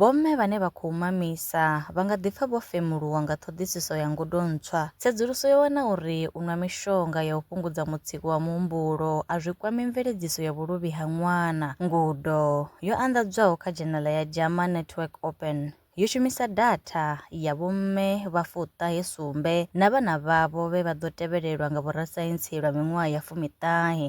Vhomme vhane vha khou mamisa vha nga ḓipfa vho femuluwa nga ṱhoḓisiso ya ngudo ntswa. Tsedzuluso yo wana uri u nwa mishonga ya u fhungudza mutsiko wa muhumbulo a zwi kwami mveledziso ya vhuluvhi ha ṅwana. Ngudo yo anḓadzwaho kha dzhenala ya JAMA Network Open yo shumisa datha ya vhomme vha fuṱahe sumbe na vhana vhavho vhe vha ḓo tevhelelwa nga vhorasaintsi lwa miṅwaha ya fumi ṱahe.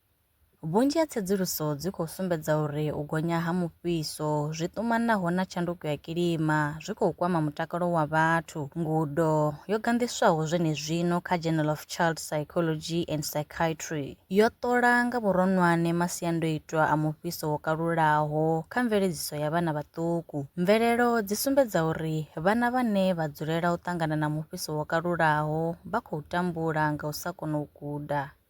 Vhunzhi ha tsedzuluso dzi khou sumbedza uri u gonya ha mufhiso zwi ṱumanaho na tshanduko ya kilima zwi khou kwama mutakalo wa vhathu. Ngudo yo ganḓiswaho zwenezwino kha Journal of Child Psychology and Psychiatry yo ṱola nga vhuronwane masiandoitwa a mufhiso wo kalulaho kha mveledziso ya vhana vhaṱuku. Mvelelo dzi sumbedza uri vhana vhane vha dzulela u ṱangana na mufhiso wo kalulaho vha khou tambula nga u sa kona u guda.